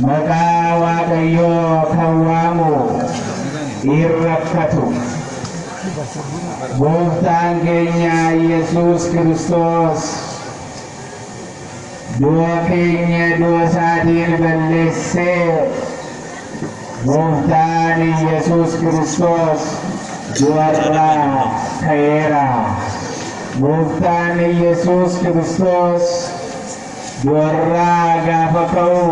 Maqaa Waaqayyoo kan waamu in rakkatu. Gooftaan keenya Yesuus Kiristoos du'a keenya du'a isaatiin balleessee Gooftaan Yesuus Kiristoos du'arraa ka'eera. Gooftaan Yesuus Kiristoos Du'arraa gaafa ka'u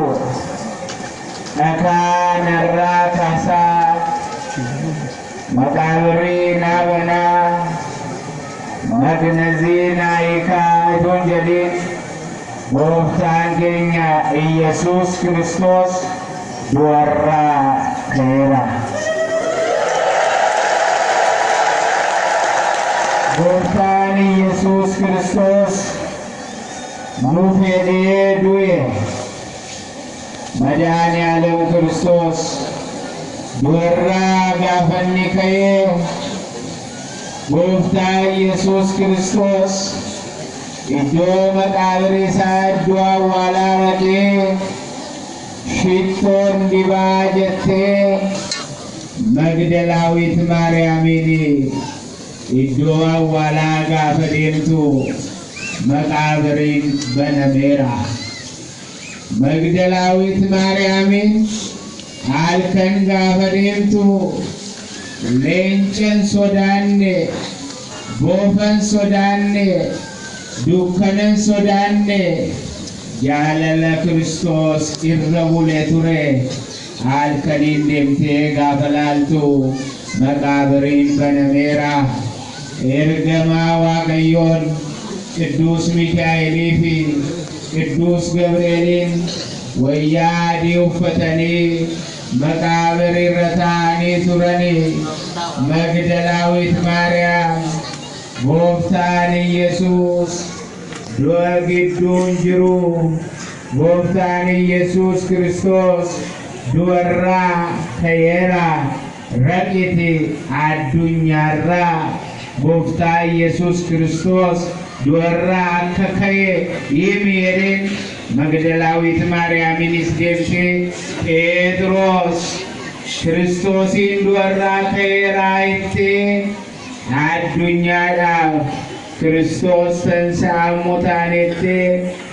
dhakaa narraa kaasaa maqaabirrii naa banaa magnazii naa hiikaa utuun jedhiin gooftaan keenya Iyyasuus Kiristoos du'arraa ka'eera. Gooftaan Iyyasuus Kiristoos Nuf yadee du'e Madaani'aalem Kiristoos Du'arraa gaafa inni ka'e Gooftaa Iyyasuus Kiristoos Iddoo maqaabirri isaa iddoo awwaalaa dhaqee Shittoon dibaa jettee Magdalaawit Maariyaamiin Iddoo awwaalaa gaafa deemtu Maqaabariin banameera. Magdalaawit Maariyaamiin halkan gaafa deemtu leencan sodaanne, boofan sodaanne, dukkanan sodaanne, jaalala Kiristoos irra bule ture. Halkaniin deemtee gaafa laaltu maqaabiriin banameera. Ergamaa Waaqayyoon Qidduus Mikaa'elii fi Qidduus Gabri'eeliin wayyaa adii uffatanii maqaabirii irra taa'anii turani. Magdalaawiit Maariyaam Gooftaan Iyyasuus du'a gidduu hin jiru. Gooftaan Iyyesuus Kiristoos du'arraa ka'eera Raqiti Addunyaarraa Gooftaa Iyyesuus Kiristoos du'arraa akka ka'e himi jedheen Magdalaawiit Maariyaamiinis deebitee Pheexiroos Kiristoosiin du'arraa ka'eera jettee Addunyaadhaaf Kiristoos tansa'a mutaan jettee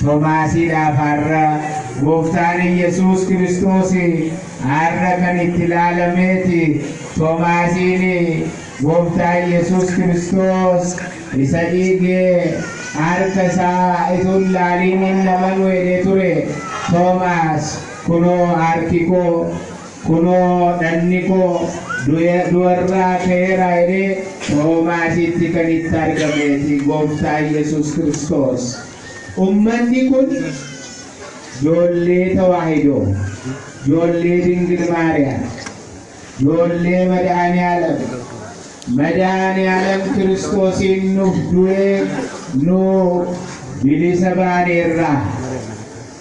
Tomaasiidhaaf har'a Gooftaan Iyyesuus Kiristoos har'a kan itti laalamee ti. Tomaasiin Gooftaa Iyyesuus Kiristoos isa dhiige harka isaa utuu hin laaliin hin amanu jedhee ture. Tomaas kunoo harki koo. Kunoo dhagni koo du'arraa ka'eera jedhee Toomaasitti kan itti argamee fi Gooftaa Yesuus Kiristoos. Ummanni kun joollee Tawaahidoo, joollee Dingil Maariyaam, joollee Madaani'aalam, Madaani'aalam Kiristoosiin nuuf du'ee nu bilisa baaneerra.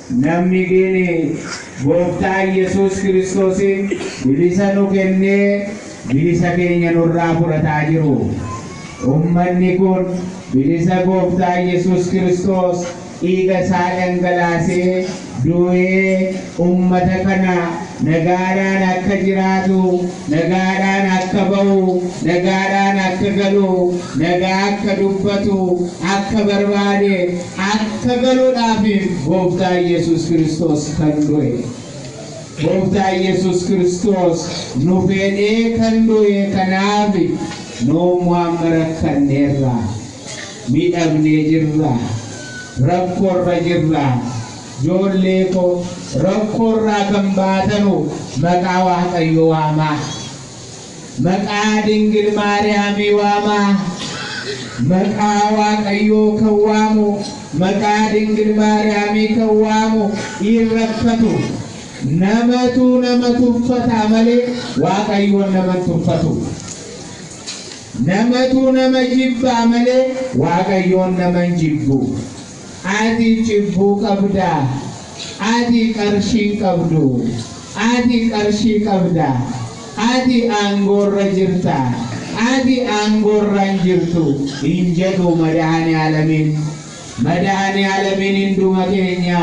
Namni gini Gooftaa Iyyasuus Kiristoosiin bilisa nu kennee bilisa keenya nurraa fudhataa jiru. Ummanni kun bilisa Gooftaa Iyyasuus Kiristoos dhiiga isaa dhangalaasee du'ee ummata kana nagaadhaan akka jiraatu, nagaadhaan akka ba'u, nagaadhaan akka galu, nagaa akka dubbatu akka barbaade, Akka galuudhaafiif Gooftaa Yesuus Kiristoos kan du'e. Gooftaa Yesuus Kiristoos nu fedhee kan du'e kanaaf nuummoo amma rakkanneerra, midhamnee jirra, rakkoorra jirra. Joollee koo rakkoorraa kan baatanu maqaa Waaqayyoo waamaa. Maqaa Dingil Maariyaamii waamaa. Maqaa Waaqayyoo kan waamu, maqaa Dingil Maariyaamii kan waamu in rakkatu. Namatu nama tuffata malee Waaqayyoon nama hin tuffatu. Namatu nama jibba malee Waaqayyoon nama hin jibbu. Ati cibbuu qabda. Ati qarshii hin qabdu. Ati qarshii qabda. Ati aangoorra jirta. Ati aangoorra hin jirtu hin jedhu Madahaniyaalamiin. Madahaniyaalamiin hinduma keenya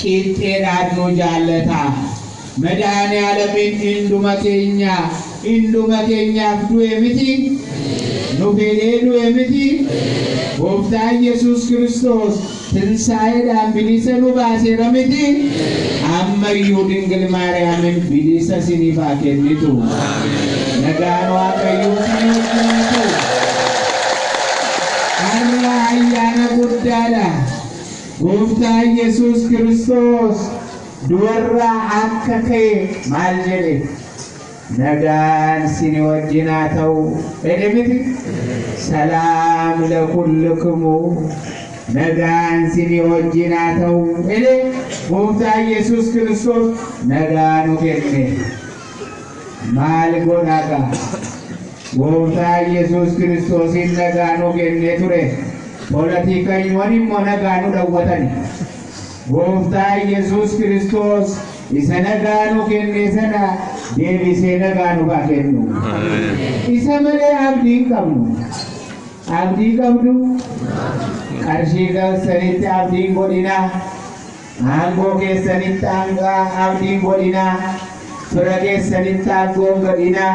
qiixxeedhaan nu jaallata. Medhaanialamiin induma keenyaa induma keenyaaf du'e miti? Nu fedhee du'e miti? Gooftaan Yesuus Kiristoos tinsaa'eedhaan bilisa nu baaseera miti? Amma iyyuu Dingil Maariyaamiin bilisa isiniif haa kennitu. Nagaan Waaqayyoo isin wajjin haa ta'u. Har'a ayyaana guddaadha. Gooftaan Yesuus Kiristoos Du'arraa akka ka'e maal jedhe? Nagaan sini wajjin haa ta'u jedhe miti? Salaam lakullukumu, nagaan sini wajjin haa ta'u jedhe. Gooftaan Yesuus Kiristoos nagaa nu kenne. Maal godha gaa? Gooftaan Yesuus Kiristoosiin nagaa nu kennee ture. Polotiikanywan immoo nagaa nu dhawwatani. Gooftaa Iyyasuus Kiristoos isa nagaa nu kenne sana deebisee nagaa nuuf haa kennu. Isa malee abdii hin qabnu. Abdii qabdu? Qarshii keessanitti abdii hin godhinaa. Aangoo keessanitti abdii hin godhinaa. Fira keessanitti aangoo hin godhinaa.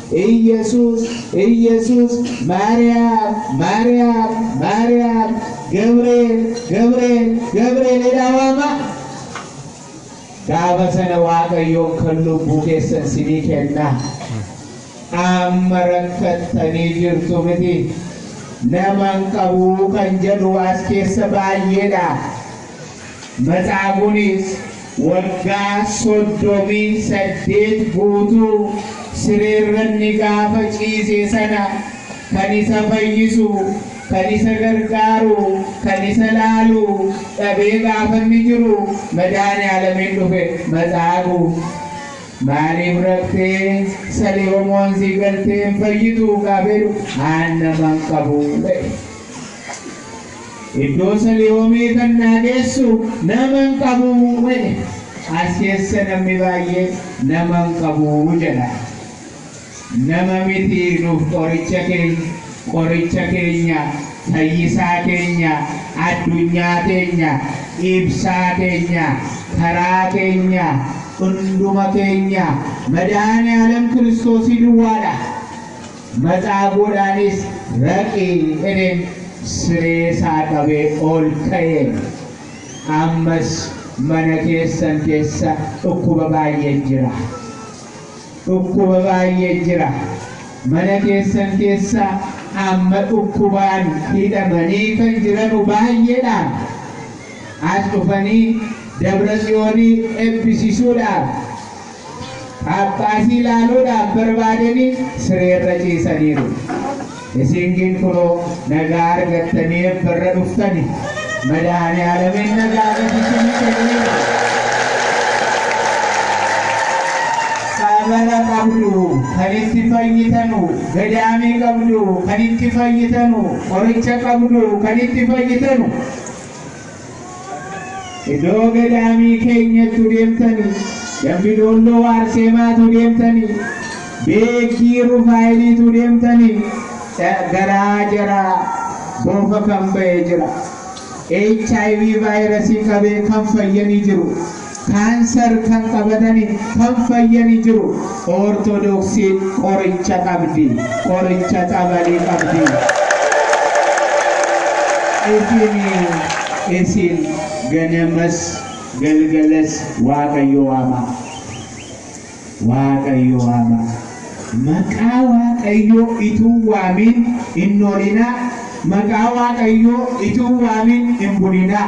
Iyyasuus Iyyasuus Maariyaam Maariyaam Maariyaam Gabreel Gabreel Gabreel jedhaa waamaa gaafa sana waaqayyoon kan lubbuu keessan sinii kennaa amma rakkattanii jirtu miti naman qabuu kan jedhu as keessa baay'eedha Matsaabuunis waggaa 38 guutuu sireerranni gaafa ciise sana kan isa fayyisu, kan isa gargaaru, kan isa laalu dhabee gaafanni jiru Madaaniaalamiin dhufe. Matsaabu! Maaliif raftee Salihomoon sii galtee hin fayyitu? gaafeedhu. Haanna man qabu? jedhe. Iddoo Salihoomii kan naa geessu nama hin qabu jedhe. As keessa namni baay'ee nama hin qabu jedha. Nama miti nuuf qoricha keenya, qoricha keenya, fayyisaa keenya, addunyaa keenya, ibsaa keenya, karaa keenya, hunduma keenya Madahaani'aalam Kiristoosii duwwaadha. Matsaabuudhaanis raqi inin siree isaa qabee ol ka'e. Ammas mana keessan keessa dhukkuba baay'ee jira. Dhukkuba baay'ee jira. Mana keessan keessa amma dhukkubaan hidhamanii kan jiranu baay'eedhaaf as dhufanii Dabra Tsiyoonii ebbisisuudhaaf Phaaphaasii ilaaluudhaaf barbaadanii sireerra ciisaniiru. Isin gin kunoo nagaa argattanii eebbarra dhuftani. Madaani'aalamiin nagaa gad isinii kenneera. Tsabala qabdu kan itti fayyitanu, gadaamii qabdu kan itti fayyitanu, qoricha qabdu kan itti fayyitanu. Idoo gadaamii keenyattu deemtani dambi doolloo waarseemaatu deemtani beekkii rufaayiliitu deemtani garaa jaraa boofa kan ba'e jira hiv vaayirasii qabee kan fayyanii jiru Cancer kan qabatani kan fayyani jiru orthodoxin qoricha qabdi qoricha xabali qabdi isini isin ganamas galgalas waaqayyo waama waaqayyo waama maqaa waaqayyo ituu waamin hin noolinaa maqaa waaqayyo ituu waamin hin bulinaa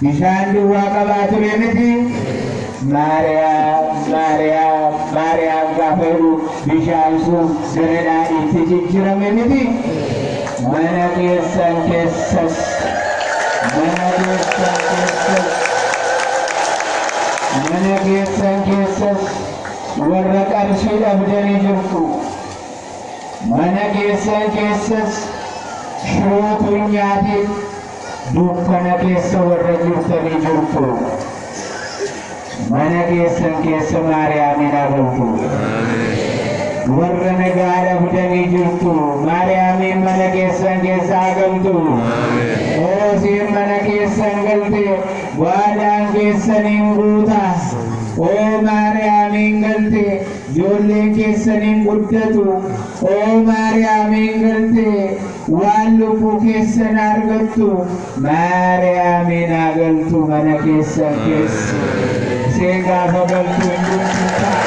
Bishaan duwwaa qabaa ture miti. Maariyaam, Maariyaam, Maariyaam gaafa jedhu bishaan sun gara daadhiitti jijjirame miti. Mana keessan keessas, mana keessan keessas, mana keessan keessas warra qarshii dhabdanii jirtu. Mana keessan keessas shirootu hin nyaatiin. Dukkana keessa warra jirtanii jirtu mana keessan keessa Maariyaamiin haa bultu. Warra nagaa dhabdanii jirtu Maariyaamiin mana keessan keessa haa galtu. Oo isheen mana keessan galte waadaan keessaniin guuta. Oo Maariyaamiin galte ijoolleen keessaniin guddatu. Oo Maariyaamiin galte Waan lubbuu keessan argattu maariyaamiin haa galtu mana keessan keessa isiin gaafa galtu hin bultu ta'a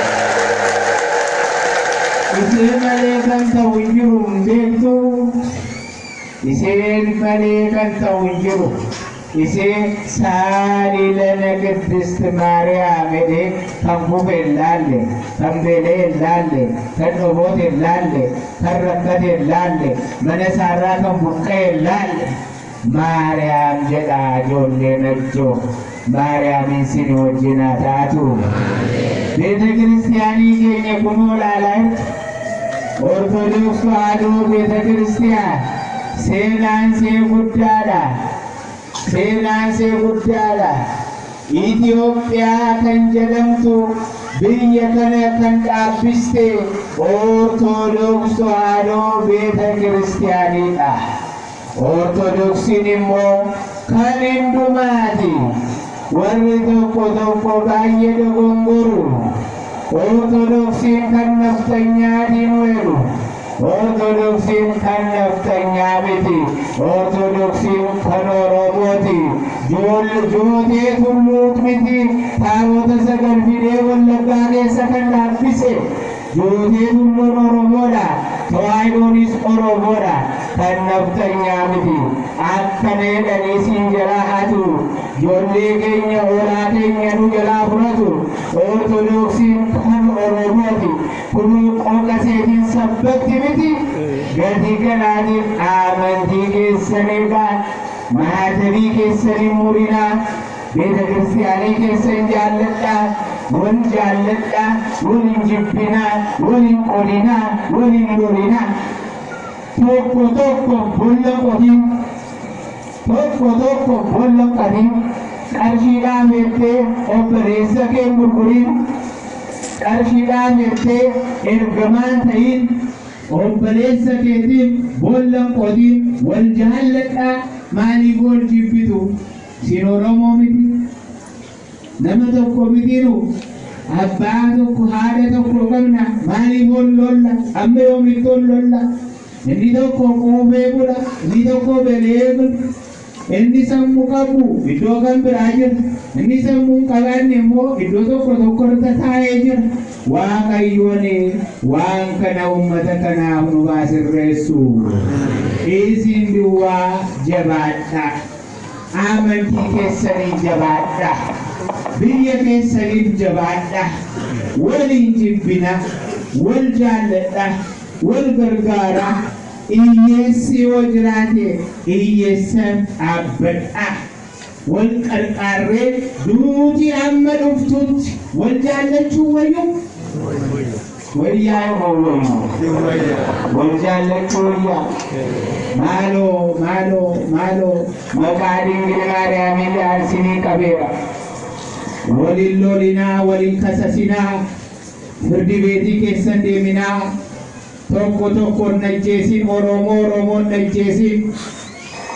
isii malee kan ta'u hin jiru hin beektu isiin malee kan ta'u hin jiru Isiin saali lana Qiddisti Maariyaamiti kan kufe hin laalle, kan beela'e hin laalle, kan dhobote hin laalle, kan rakkate hin laalle, mana isaarraa kan buqqa'e hin laalle. Maariyaam jedhaa ijoollee Najjoo. Maariyaamiin siin wajjin haa taatu. Beetakiristiyaanii keenya kunoo laalaa jirtu. Ortodoks Tawaahidoo Beetakiristiyaan. Seenaan see guddaadha Seenaan see guddaadha Itiyoophiyaa kan jedhamtu biyya kana kan dhaabbiste Ortodoks Tawaahidoo Beeta Kiristiyaaniidha. Ortodoksiin immoo kan hundumaati. Warri tokko tokko baay'ee dogongoru. Ortodoksiin kan nafxanyaati nu jedhu. Ortodoksiin kan nafxanyaa miti. Ortodoksiin kan Oromooti. Joolli jootee tulluut miti. Taabota sagal fidee Wallaggaa keessa kan dhaabbise. Jootee tulluun Oromoodha. Tawaahidoonis Oromoodha. Kan nafxanyaa miti. Akkana jedhanii siin jalaa hatu. Jollee keenya hoolaa keenya nu jalaa fudhatu. Ortodoksiin kan Oromooti. Kunuu qooqa seetiin sabbatti miti gatii kanaatiin aamantii keessan eegaa maatabii keessan hin murinaa beeta kiristiyaanii keessan jaalladhaa wal jaalladhaa wal hin jibbinaa wal hin qodinaa wal hin lolinaa tokko tokko bolla qotiin Tokko tokko boolla hin qabiin qarshiidhaan jettee obboleessa kee hin gurguriin. Qarshiidhaan jettee ergamaa hin ta'iin. Obboleessa keetiif boolla hin qotiin. Wal jaalladhaa maaliif wal jibbitu? Sin Oromoo miti? Nama tokko mitiinu abbaa tokko haadha tokko qabna maaliif ol lolla amma yoomitti ol lolla inni tokko quufee bula inni tokko belee bula inni sammuu qabu iddoo kan biraa jira inni sammuu hin qabaanne immoo iddoo tokko tokko irra taa'ee jira waaqayyoon waan kana uummata kanaaf nu baasirreessu isin duwwaa jabaadhaa. Amantii keessaniin jabaadha. Biyya keessaniif jabaadha. Wal hin jibbina. Wal jaalladha. Wal gargaara. Iyyeessi yoo jiraate iyyeessaf dhaabbadha. Wal qarqaarree duuti amma dhuftutti wal jaallachuun wayyuu? Wayyaa moo hin wayyu? Hin wayya. Wal jaallachuu wayya. Maaloo maaloo maaloo maqaa dingil maariyaamii ja'aan sinii qabeera. Wal hin lolinaa wal hin kasasinaa firdi beetii keessan deeminaa tokko tokko hin ajjeesin oroomoo oroomoo hin ajjeesin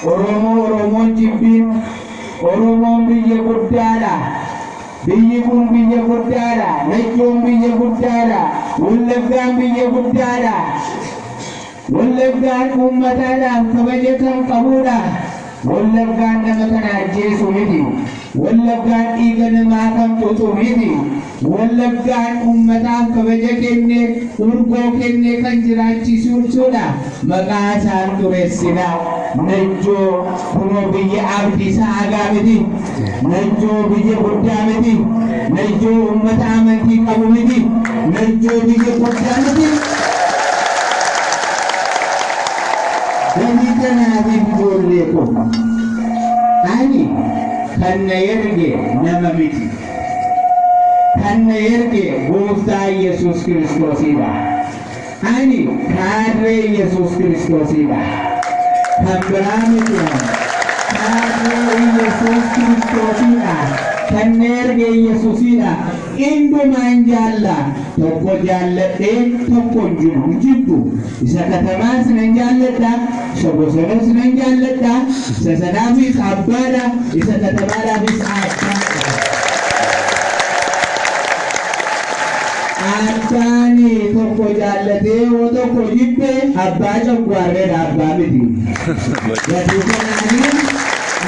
Oromoo Oromoon jibbin. Oromoon biyya guddaadha. Biyyi kun biyya guddaadha. Najjoon biyya guddaadha. Wallaggaan biyya guddaadha. Wallaggaan uummataadhaaf kabaja kan qabuudha. Wallaggaan nama kana ajjeesu miti. Wallaggaan dhiiga namaa kan xuuxu miti. Wallaggaan uummataaf kabaja kenne, urgoo kenne kan jiraachiisuudha. Maqaa isaan xuressina. Najjoo kunoo biyya Abdiisaa Agaa miti. Najjoo biyya guddaa miti. Najjoo uummata amantii qabu miti. Najjoo biyya guddaa miti. Gatii kanaatiif ijoollee koo ani kan na erge nama miti. Kan na erge Gooftaa Yesuus Kiristoosidha. Ani kaadree Yesuus Kiristoosidha. Kan biraa miti ani. Kaadree Yesuus Kiristoosidha. Kan na erge Yesuusidha. Indumaan jaalla. Tokko jaalladhee tokkon jibu, jibbu. Isa Katamaas nan jaalladha, isa Bosonoos nan jaalladha, isa sanaafis abbaadha, isa Katamaadhaafis abbaadha. Abbaan tokko jaallatee yoo tokko jibbe abbaa coggaarreedha, abbaa miti. Gatii kanaanis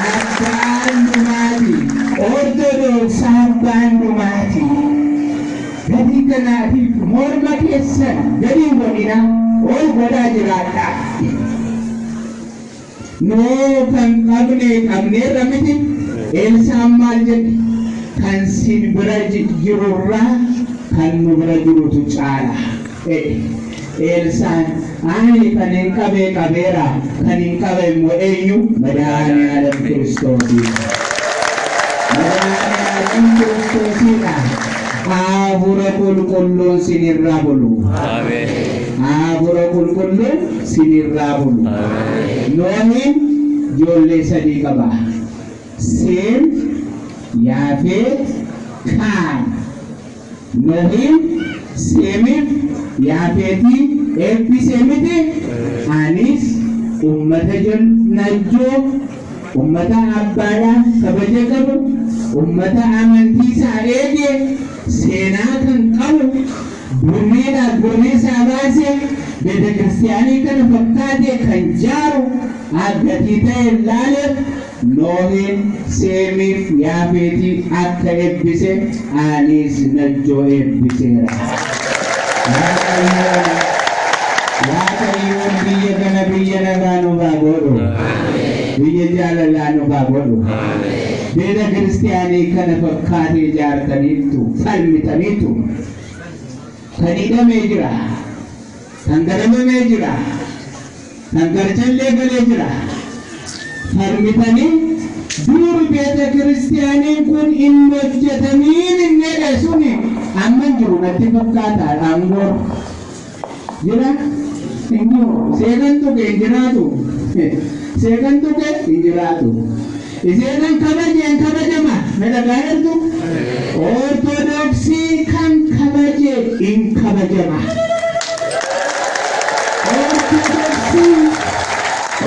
abbaan dhumaati. Ortodooks abbaan dhumaati. Gatii kanaa fi morma keessan gadi hin godhinaa, ol godhaa jiraadhaa. Nuu kan qabne qabneerra miti, Eelsaan maal jedhe? Kan sin bira jirurra kan nu bira jirutu caala. jedhe. Eelsaan, Ani kanin qabe qabeera, kan hin qabe immoo eenyu? Madaani'aalam Kiristoosi. Madaani'aalam Kiristoosidha. Haafura qulqulluun sinirraa bulu. Haafura qulqulluun sinirraa bulu. Noohin ijoollee sadii qaba. Seem, Yaafeet, Kaam. Nohiin, Seemiif, Yaafeetii eebbisee mitii? Anis ummata jannajjoo, ummata abbaadhaaf kabaja qabu, ummata amantiisaa eege, seenaa kan qabu, birriidhaa birriisaa baasee beetekiristiyaanii kana fakkaate kan jaaru, a gatii ta'een laaleef, Nohiin Seemiif Yaafeetii akka eebbise aniis Najjoo eebbiseera. Waaqayyoon Waaqayyoon biyya kana biyya nagaa nuuf haa godhu. Biyya jaalalaa nuuf haa godhu. Beeta kiristiyaanii kana fakkaatee ijaartaniittu falmitaniittu. Kan hidhamee jira. Kan darabamee jira. Kan garchallee galee jira. Falmitanii duuri beeta kiristiyaaniin kun hin hojjetamiin hin jedhe suni amma hin jiru natti fakkaata aangoo jira hin jiru seeqan tuqe hin jiraatu seeqan tuqe hin jiraatu. Iseenan kabaje an kabajama na dhagaha jirtu orthodoxii kan kabaje in kabajama orthodoxii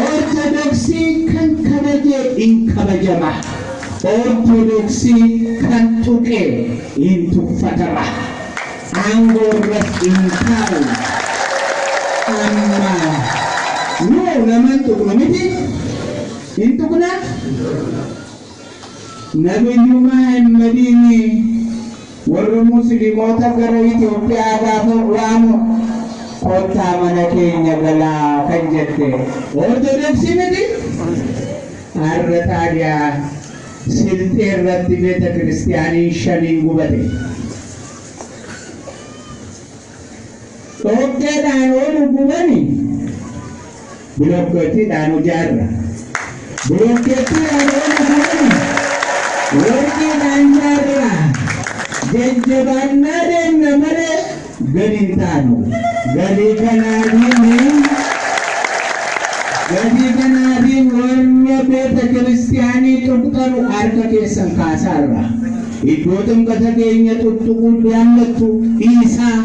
orthodoxii kan kabaje in kabajama orthodoxii kan tuqe in tuffatama aangoo irras in taa'u amma nu naman tuqnu miti Hin tuqnaa? Nabiyyumaa hin badiini warri muslimoota gara Itoophiyaa gaafa waamu kottaa mana keenya galaa kan jette Ortodoksi miti? Har'a taadiyaa Silxee irratti beetakiristiyaaniin shaniin gubate. Dhoqqeedhaan yoo nu gubani bilookkeettiidhaan ijaarra. Bilookkeettiidhaan yoo nu gubani warqiidhaan ijaarra. Jajjabaannaa deemna malee gadi hin taanu. Gadi kanaatiin gadi kanaatiin warra beeta kiristiyaanii tuqxanu harka keessan kaasaarra. Iddoo ximqata keenya xuxxuquu jaallattu dhiisaa.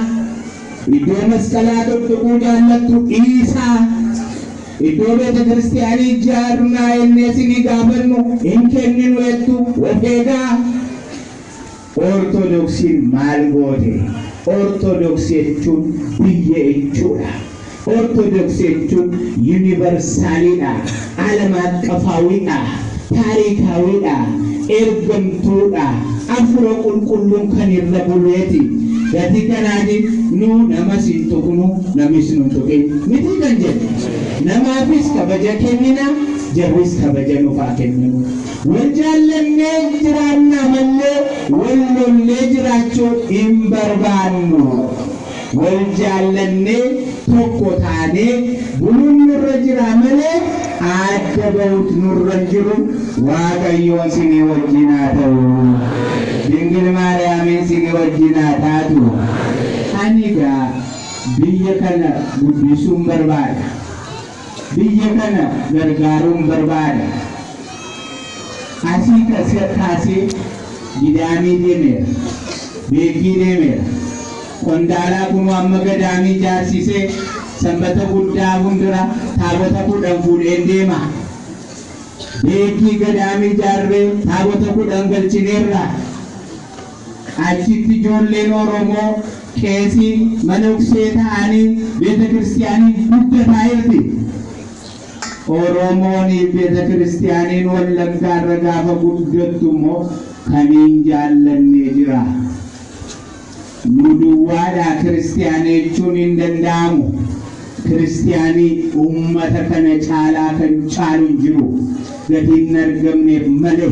Iddoo masqalaa xuxxuquu jaallattu dhiisaa. Iddoo beetakiristiyaanii ijaarnaa jennee isinii gaafannu hin kenninu jettu of eegaa. Ortodoksiin maal goote? Ortodoksii jechuun biyya jechuudha. Orthodox jechuun universaalii dha, alamaaqqafaawii dha, taariikaawii dha, ergamtuu dha, Afura Qulqulluun kan irra bulee ti. Gatii kanaatiin nu namas hin tuqnu, namis nu hin tuqin miti kan jennu. Namaafis kabaja kennina, jarris kabaja nuuf haa kennanu. Wal jaallannee jiraannaa mallee wal lollee jiraachuu hin barbaannu. Wal jaallannee tokko taanee buluun nurra jira malee aadda ba'uut nurra hin jiru waaqayyoon sini wajjin haa ta'u dingil maariyaamiin sini wajjin haa taatu ani egaa biyya kana guddisuun barbaada. Biyya kana gargaaruun barbaada. Asii kaasee Gidaamii deemeera, Beeggii deemeera, Qondaalaa kunoo amma Gadaamii ijaarsisee Sanbata Guddaa fuuldura Taabota 10 fuudheen deema. Beeggii Gadaamii ijaarree Taabota 10 galchineerra. Achitti ijoolleen Oromoo qeesii, manoksee, ta'anii beetakiristiyaaniin guddataa jirti. Oromooniif beetakiristiyaaniin Wallaggaarra gaafa guddattu immoo kan hin jaallanne jira. Nu duwwaadhaa kiristiyaana jechuun hin danda'amu. Kiristiyaanii ummata kana caalaa kan caalu hin jiru. Gatii hin argamneef malee.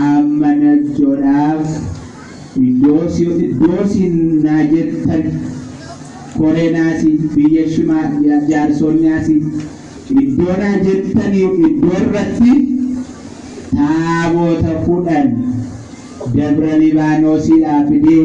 Amma Najjodhaaf iddoo iddoo siin naa jettan koree naasi biyya shimaa jaarsoon naasi iddoo naa jettanii iddoo irratti taaboota kudhan Dabra Libaanoosiidhaa fidee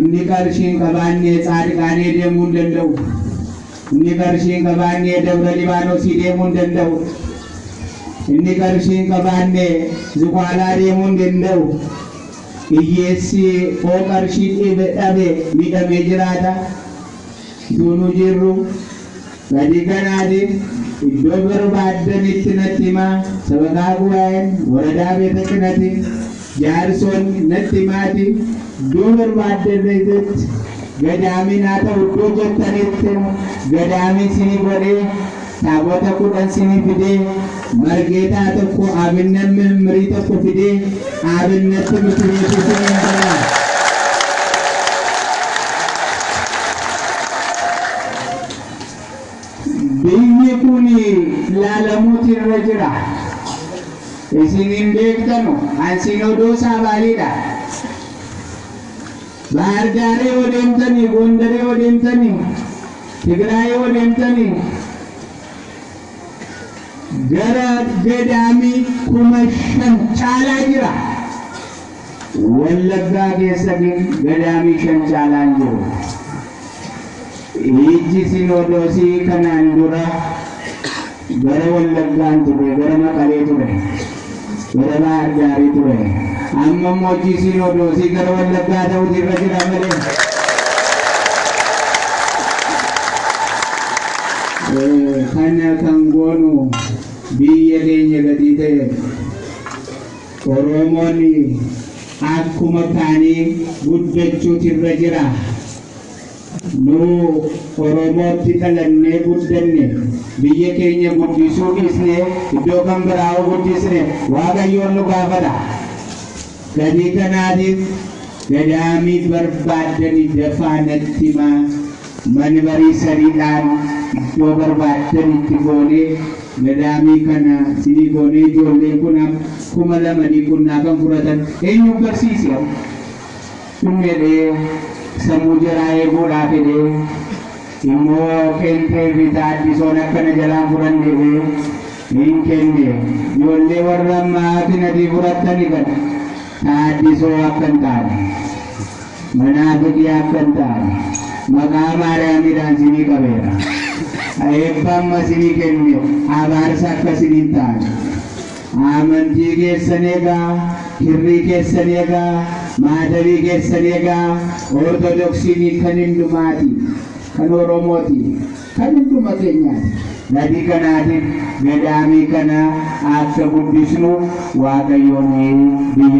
Inni qarshii hin qabaanne Tsaadiqaanee deemuu hin danda'u. Inni qarshii hin qabaanne Dabra Libaanosii deemuu hin danda'u. Inni qarshii hin qabaanne Zuqaalaa deemuu hin danda'u. Hiyyeessi hoo qarshii dhabe miidhamee jiraata? Utuu nu jirru. 3 Ganaadiin iddoo barbaaddanitti natti himaa sabakaa gubaa'een woradaa beeta qinatiin jaarsoon natti himaatii iddoo barbaaddanitti gadaamii naa ta'u iddoo jettanittin gadaamii sinii godhee taabota 10 sinii fidee margeetaa tokko aabinnan mimmirii tokko fidee aabinnatti mitireetii siniin godhaa. Biyyi kun laalamuuti irra jira. Isin hin beektanu. An sinodoosaa baaliidha. Bahar Daaree yoo deemtanii, Gondaree yoo deemtanii, Tigraayee yoo deemtanii, gara gadaamii kuma shan caalaa jira. Wallaggaa keessa gadaamii shan caalaan jiru. Ijji Sinoodoosii kanaan dura gara Wallaggaa hin turre, gara Maqalee ture, gara Baahar Daarii ture. Amma immoo ijji Sinoodoosii gara Wallaggaa ta'uutu irra jira malee. Kana kan goonu biyya keenya gatii ta'eef. Oromoon akkuma kaanii guddachuutu irra jira. Nu Oromootti dhalannee guddanne. Biyya keenya guddisuu dhiisnee iddoo kan biraa yoo guddisne Waaqayyoon nu gaafata. Gatii kanaatiif gadaamii barbaaddani dafaa natti himaa. Mani marii sarii dhaan iddoo barbaaddan itti goonee madaamii kana sinii goonee ijoolleen kun am kuma lama dii qunnaa kan furatan eenyuu barsiisi am kun jedhee sammuu jaraa eeguu dhaaf edhee immoo qeenxee fi taaddisoon akka na jalaa hin furanne edhee hin kenne ijoollee warra maatin atii furattani kana taaddisoo akka hin taane. Manaa kitiyaaf kan taa'e maqaa Maariyaamiidhaan sinii qabeera. Eebba amma sinii kenne abaarsa akka sin hin taane. Aamantii keessan egaa, kirrii keessan egaa, maatabii keessan egaa, Ortodoksiin kan hundumaati, kan Oromooti, kan hunduma keenyaati. Gatii kanaatiif gadaamii kana akka guddisnu Waaqayyoon biyya.